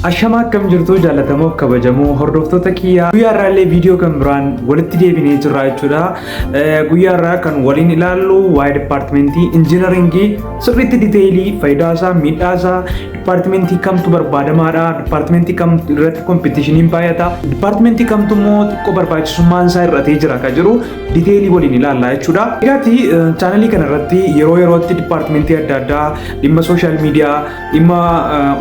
Ashamaa akkam jirtu jaallatamoo kabajamoo hordoftoota kiyyaa guyyaa irraa illee viidiyoo kan biraan walitti deebinee jirra jechuudha. Guyyaa irraa kan waliin ilaallu waa'ee dipaartimentii injiinaringii sirriitti diteelii faayidaa isaa miidhaa isaa dipaartimentii kamtu barbaadamaadha dipaartimentii kam irratti kompiitishiniin baay'ata dipaartimentii kamtu immoo xiqqoo barbaachisummaan isaa irratee jira kan jiru diteelii waliin ilaalla jechuudha. Egaati chaanalii kana irratti yeroo yerootti dipaartimentii adda addaa dhimma sooshaal miidiyaa dhimma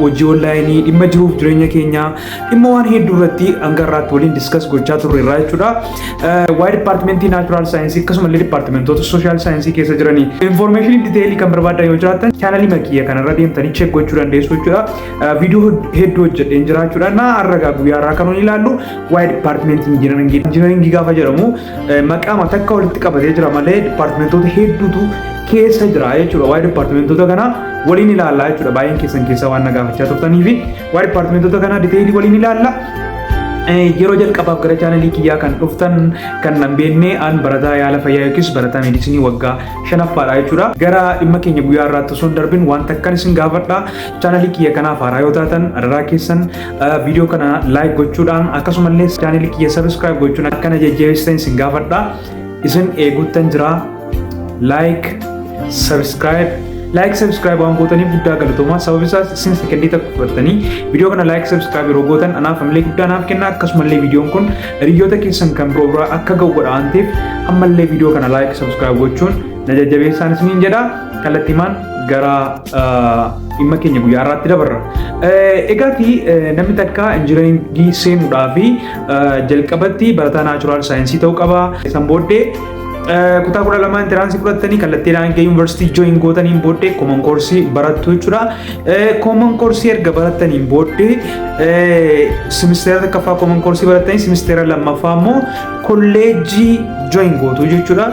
hojii onlaayinii, dhimma jiruuf jireenya keenyaa, dhimma waan hedduu irratti hanga irraatti waliin diskas gochaa turre irraa jechuudha. Waa'ee dipaartimentii naachuraal saayinsii akkasuma illee dipaartimentoota sooshaal saayinsii keessa jiranii infoormeeshinii diteelii kan barbaadan yoo jiraatan chaanalii makiyya kanarra deemtanii cheek gochuu dandeessu jechuudha. Viidiyoo hedduu hojjedheen jira jechuudha. Na arragaa guyyaa irraa kan nuyi ilaallu waa'ee dipaartimentii injinaringii gaafa jedhamu maqaama takka walitti qabatee jira malee dipaartimentoota hedduutu keessa jira jechuudha. Waa'ee dipaartimentoota kanaa waliin ilaalla jechuudha. Baay'een keessan keessaa waan na gaafachaa turtanii fi waa'ee dipaartimentoota kanaa diteelii waliin ilaalla. Yeroo jalqabaaf gara chaanalii kiyyaa kan dhuftan kan nan beekne an barataa yaala fayyaa yookiis barataa meedisinii waggaa shanaffaadha jechuudha. Gara dhimma keenya guyyaa irraatti osoo hin darbin waan takkan isin gaafadha. Chaanalii kiyya kanaaf haaraa yoo taatan adaraa keessan viidiyoo kana laayik gochuudhaan akkasumallee chaaneli kiyya sabiskiraayib gochuun akka na jajjabeessitan isin gaafadha. Isin eeguuttan jira. Laayik, sabiskiraayib, laayik sabiskiraayib waan gootaniif guddaa galatoomaa sababni isaas isin sekendii takka fudhattanii viidiyoo kana laayik sabiskiraayib yeroo gootan anaaf ammallee guddaa naaf kenna akkasumallee viidiyoon kun hiriyoota keessan kan biroo biraa akka ga'u godha waan ta'eef ammallee viidiyoo kana laayik sabiskiraayib gochuun na jajjabeessaan isiniin jedha kallattiimaan gara dhimma keenya guyyaa irraatti dabarra. Egaati namni takka injinariingii seenuudhaa fi jalqabatti barataa naachuraal saayinsii ta'uu qaba. San booddee kutaa kudha lamaa intiraansii fudhattanii kallattii naannoo yuunivarsiitii jooyin gootaniin booddee kooman koorsii barattu jechuudha. Kooman koorsii erga barattaniin booddee simisteera takkaffaa kooman koorsii barattanii simisteera lammaffaa immoo kolleejjii jooyin gootu jechuudha.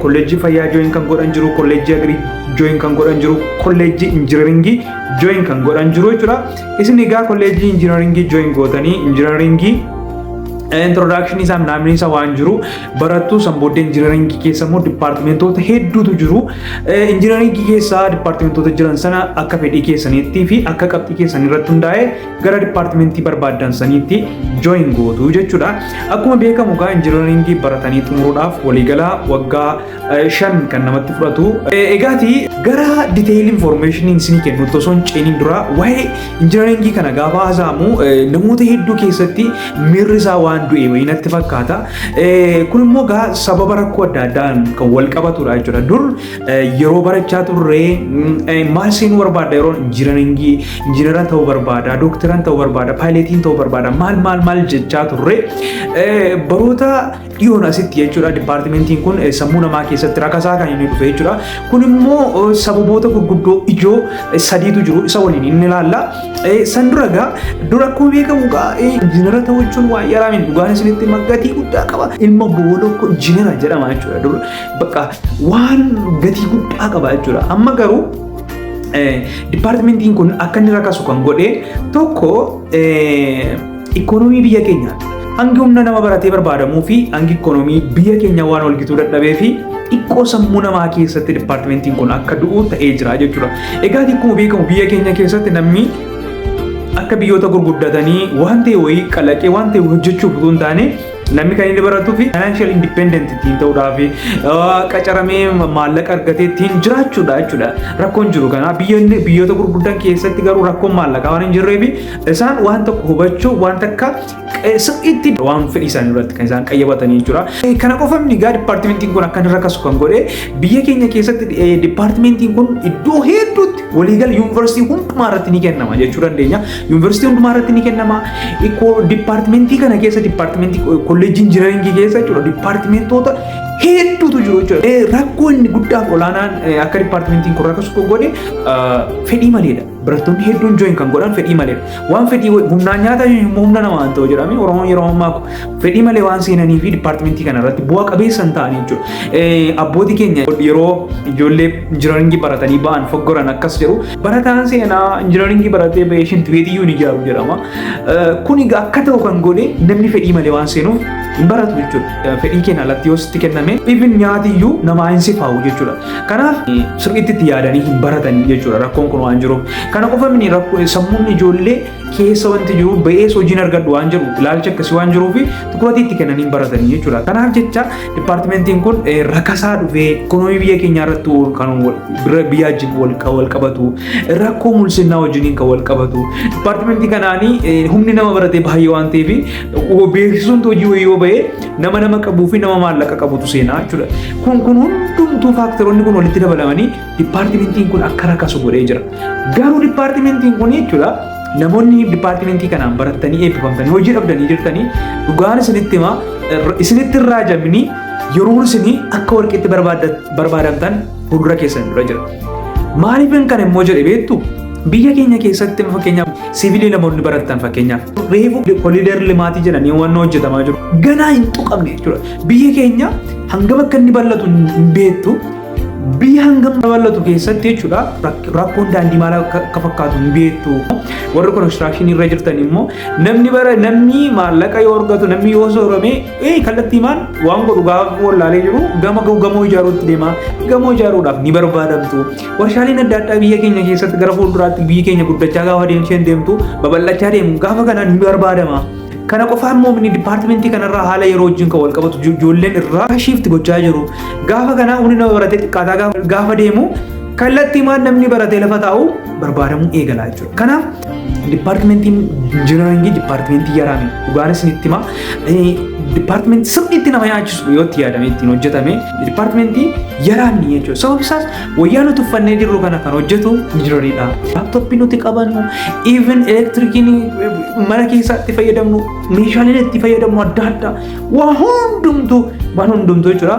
Kolleejjii fayyaa jooyin kan godhan jiru kolleejjii agrii join kan godhan jiru kolleejjii injinaringii join kan godhan jiru jechuudha. Isin egaa kolleejjii injinaringii join gootanii injinaringii introduction isaa naamni isaa waan jiru barattuu san booddee injinaringii keessa immoo dipaartimentoota hedduutu jiru. Injinaringii keessa dipaartimentoota jiran sana akka fedhii keessaniitti fi akka qabxii keessan irratti hundaa'e gara dipaartimentii barbaaddan saniitti join gootu jechuudha. Akkuma beekamu egaa injinaringii baratanii xumuruudhaaf waliigalaa waggaa shan kan namatti fudhatu. Egaati gara detail information isinii kennutti osoo hin ceeniin dura waa'ee injinaringii kana gaafa haasa'amu namoota hedduu keessatti miirri isaa waan du'e wayii natti fakkaata. Kun immoo gaa sababa rakkoo adda addaan kan wal qabatudha jechuudha. Dur yeroo barachaa turre maal seenuu barbaadda yeroo injinaringii injinara ta'uu barbaada, dooktaran ta'uu barbaada, paayileetiin ta'uu barbaada maal maal maal jechaa turre baroota dhiyoon asitti jechuudha dipaartimentiin kun sammuu namaa keessatti rakasaa kan inni dhufe jechuudha. Kun immoo sababoota gurguddoo ijoo sadiitu jiru isa waliin inni ilaalla. San dura egaa dura akkuma beekamu egaa injinara ta'uu jechuun waa yaraa miti dhugaan isinitti gatii guddaa qaba. Ilma boolokko injinara jedhama jechuudha dura bakka waan gatii guddaa qaba jechuudha. Amma garuu dipaartimentiin kun akka inni rakasu kan godhe tokko Ikoonomii biyya keenyaati. Hangi humna nama baratee barbaadamuu fi hangi ikoonomii biyya keenyaa waan walgituu dadhabee fi xiqqoo sammuu namaa keessatti dipaartimentiin kun akka du'u ta'ee jira jechuudha. Egaa akkuma beekamu biyya keenya keessatti namni akka biyyoota gurguddatanii waan ta'e wayii kalaqee waan ta'e hojjechuuf utuu hin taane namni kan inni baratuu fi financial independent ittiin ta'uudhaa fi qacaramee maallaqa argatee ittiin jiraachuudha jechuudha. Rakkoon jiru kana biyyoonni biyyoota gurguddan keessatti garuu rakkoon maallaqaa waan hin jirree fi Isaan waan tokko hubachuu waan takka sirriitti waan fedhii isaanii irratti kan isaan qayyabatanii jechuudha. Kana qofa miti egaa dipaartimentiin kun akka irra kasu kan godhe biyya keenya keessatti dipaartimentiin kun iddoo hedduutti waliigala yuunivarsiitii hundumaa irratti ni kennama jechuu dandeenya. Yuunivarsiitii hundumaa irratti ni kennama. Dipaartimentii kana keessa dipaartimentii kolleejjii injinaringii keessa jechuudha dipaartimentoota hedduutu jiru jechuudha. Rakkoo inni guddaaf olaanaan akka dipaartimentiin kun rakkasu godhe fedhii maleedha. Barattoonni hedduun join kan godhan fedhii malee waan fedhii humnaan nyaata humna namaa hin ta'u jedhame Oromoon yeroo ammaa fedhii malee waan seenanii fi dipaartimentii kana irratti bu'a qabeessa hin ta'anii jechuudha. Abbootii keenya yeroo ijoollee injinaringii baratanii ba'an foggoran akkas jedhu barataan seenaa injinaringii baratee ba'ee shinti beetiyyuu ni ijaaru jedhama. Kuni akka ta'u kan godhe namni fedhii malee waan seenuuf hin baratu jechuudha. Fedhii keenya alatti yoo sitti kenname even nyaatiyyuu namaa hin sifaa'u jechuudha. Kanaaf sirriitti itti yaadanii hin baratan jechuudha rakkoon kun waan jiruuf. Kana qofa miti rakkoo sammuun ijoollee keessa wanti jiru ba'ees hojiin argadhu waan jiru ilaalcha akkasii waan jiruu fi tukurati itti kennanii hin baratan jechuudha. Kanaaf jecha dipaartimentiin kun rakkasaa dhufee ikoonoomii biyya keenyaa irratti kan bira biyyaa wajjin wal qabatu rakkoo mul'isnaa wajjiniin kan wal qabatu dipaartimentii kanaanii humni nama baratee baay'ee waan ta'eef beeksisuun hojii wayii yoo ba'ee Nama nama qabuu fi nama maallaqa qabutu seenaa jechuudha. Kun kun hundumtuu faaktaroonni kun walitti dabalamanii dipaartimentiin kun akka rakasu godhee jira. Garuu dipaartimentiin kun jechuudha namoonni dipaartimentii kanaan barattanii eebbifamtanii hojii dhabdanii jirtanii dhugaan isinitti himaa isinitti hin raajamini yeroo isinii akka warqiitti barbaadamtan fuuldura keessan dura jira. Maaliifin kan immoo jedhe beektu biyya keenya keessatti fakkeenyaaf siviilii namoonni baratan fakkeenyaaf reefu koliider limaatii jedhanii waan hojjetamaa jiru ganaa hin tuqamne jechuudha. Biyya keenya hangam akka inni bal'atu hin beektu biyya hangam bal'atu keessatti jechuudha rakkoon daandii maal akka fakkaatu hin beektu. Warri konistiraakshini irra jirtan immoo namni bara namni maallaqa yoo argatu namni yoo soorame Ee kallattiimaan waan godhu gaafa wallaalee jiru gama gamoo ijaaruutti deema. Gamoo ijaaruudhaaf ni barbaadamtu. Warshaaleen adda addaa biyya keenya keessatti gara fuulduraatti biyyi keenya guddachaa gaafa deemsheen deemtu babal'achaa deemu gaafa kana ni barbaadama. Kana qofaa immoo inni dipaartimentii kanarraa haala yeroo wajjin kan wal qabatu ijoolleen irraa shiifti gochaa jiru. Gaafa kana humni nama baratee xiqqaataa gaafa deemu kallattiimaan namni baratee lafa taa'u barbaadamuu eegala jechuudha. Kanaaf dipaartimentiin injinaringii dipaartimentii yaraame dhugaan isinitti hima. Dipaartimentii sirriitti nama yaachisu yoo itti yaadamee ittiin hojjetame dipaartimentii yaraamni jechuudha. Sababni isaas wayyaa nuti uffannee jirru kana kan hojjetu injinariidha. Laaptooppii nuti qabannu, even elektirikiin mana keessaatti fayyadamnu, meeshaaleen itti fayyadamnu adda addaa waa hundumtuu waan hundumtuu jechuudha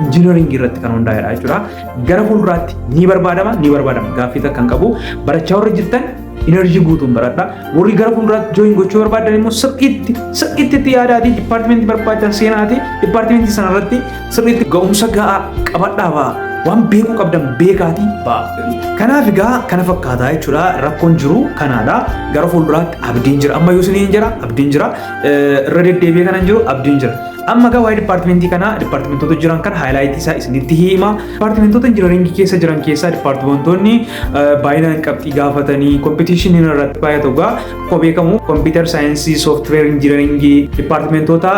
injinaringii irratti kan hundaa'edha jechuudha. gara fuulduraatti ni barbaadama ni barbaadama gaaffii takka hin qabu barachaa warra jirtan enerjii guutuun baradha warri gara fuulduraatti jooyin gochuu barbaadan immoo sirriitti sirriitti itti yaadaatii dipaartimentii barbaadan seenaatii dipaartimentii sanarratti sirriitti ga'umsa ga'aa qabadhaa ba'a waan beekuu qabdan beekaatii ba'a. Kanaaf egaa kana fakkaataa jechuudha rakkoon jiru kanaadha gara fuulduraatti abdiin jira amma yoo isiniin jira abdiin jira irra deddeebi'ee kanan jiru abdiin jira. Amma egaa waa'ee dipaartimentii kanaa dipaartimentoota jiran kan haayilaayitii isaa isinitti hima. Dipaartimentoota injinariingii keessa jiran keessaa dipaartimentoonni baay'inaan qabxii gaafatanii kompiitiishinii irratti baay'atu egaa akkuma beekamu kompiitar saayinsii, sooftiweer injinariingii, dipaartimentoota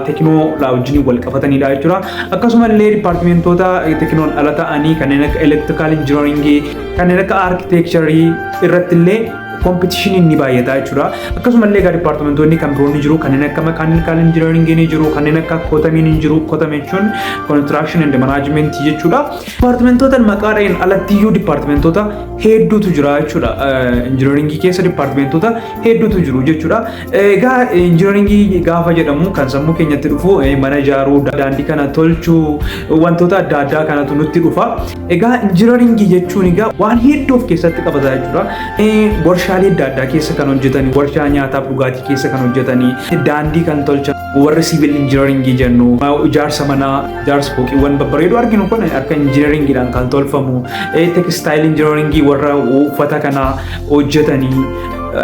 teekinoolaa wajjin wal qabatanidha jechuudha. Akkasumallee dipaartimentoota teekinoon ala ta'anii kanneen akka elektirikaal injinariingii, kanneen akka arkiteekcharii irratti illee Kompitishiniin ni baay'ataa jechuudha. Akkasumallee egaa dipaartimentoonni kan biroon ni jiru kanneen akka makaanikaal injinariingii ni jiru kanneen akka kootamiin ni jiru kootame jechuun kontiraakshin endi manaajimentii jechuudha. Dipaartimentoota maqaa dha'een alatti iyyuu dipaartimentoota hedduutu jira jechuudha. Injinariingii keessa dipaartimentoota hedduutu jiru jechuudha. Egaa injinariingii gaafa jedhamu kan sammuu keenyatti dhufu mana ijaaruu, daandii kana tolchuu wantoota adda addaa kanatu nutti dhufa. Egaa injinariingii jechuun egaa waan hedduu of keessatti qabata jechuudha. Warshaalee adda addaa keessa kan hojjetanii, warshaa nyaataa fi dhugaatii keessa kan hojjetanii, daandii kan tolchan, warri siivil injinariingii jennu, ijaarsa manaa, ijaarsa fooqiiwwan babbareedoo arginu kun akka injinariingiidhaan kan tolfamu, tekstaayil injinariingii warra uffata kana hojjetanii,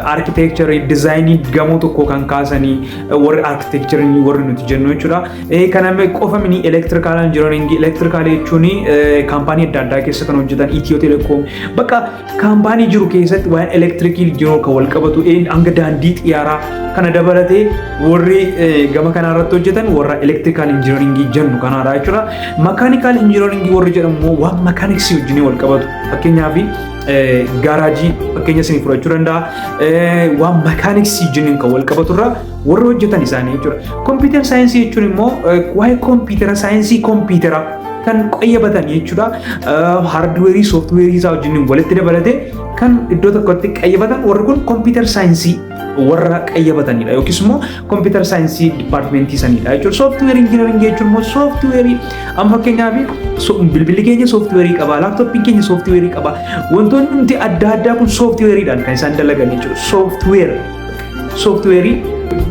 arkitekcharii, dizaayinii gamoo tokkoo kan kaasanii warri arkitekcharii warri nuti jennu jechuudha. Kana qofa mini elektirikaalaa injinariingii elektirikaalii jechuun kaampaanii adda addaa keessa kan hojjetan Itiyoo Telekoom bakka kaampaanii jiru keessatti waan elektirikii jiru kan wal qabatu hanga daandii xiyyaaraa kana dabalatee warri gama kanaa irratti hojjetan warra elektirikaal injinariingii jennu kanaadha jechuudha. Makaanikaal injinariingii warri jedhamu immoo waan makaaniksii wajjin wal qabatu fakkeenyaaf gaaraajii fakkeenya isinii fudhachuu danda'a waan makaaniksii wajjin kan wal qabaturra warra hojjetan isaanii jechuudha. Kompiitara saayinsii jechuun immoo waa'ee kompiitara saayinsii kompiitara kan qayyabatan jechuudha. Haardweerii, sooftiweerii isaa wajjin walitti dabalatee kan iddoo tokkotti qayyabatan warri kun kompiitara saayinsii warra qayyabatanidha yookiis immoo kompiitara saayinsii dipaartimentii sanidha jechuudha. Sooftiweerii injinaringii jechuun immoo sooftiweerii amma fakkeenyaaf bilbilli keenya sooftiweerii qaba, laaptooppiin keenya sooftiweerii qaba. Wantoonni nuti adda addaa kun sooftiweeriidhaan kan isaan dalagan jechuudha. Sooftiweer sooftiweerii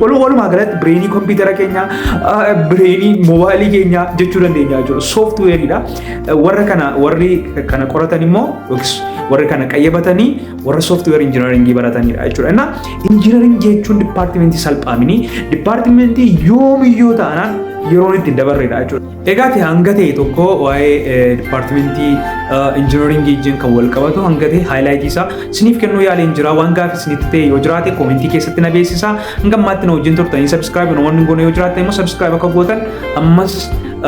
walu- walumaa galatti bireenii kompiitara keenya ah, bireenii moobaayilii keenya jechuu dandeenya jechuudha sooftiweeriidha Eh, warra kana warri kana qoratan immoo yookiis warri kana qayyabatanii warra sooftiweer injinaringii baratanidha jechuudha innaa injinaring jechuun dipaartimentii salphaaminii dipaartimentii yoomiyyoo taanaan yeroon itti dabarreedha jechuudha Egaa ta'e hanga ta'e tokko waa'ee dipaartimentii injinaringii wajjin kan wal qabatu hanga ta'e haayilaayitii isaa isiniif kennuu yaaleen jira waan gaaffii isinitti ta'e yoo jiraate koomentii keessatti na beeksisa hanga ammaatti na wajjin turtanii sabiskiraayib na waan hin goone yoo jiraate immoo sabiskiraayib akka gootan ammas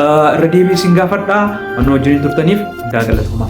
irra deebiin isin gaafadha waan na wajjin turtaniif guddaa galatoomaa.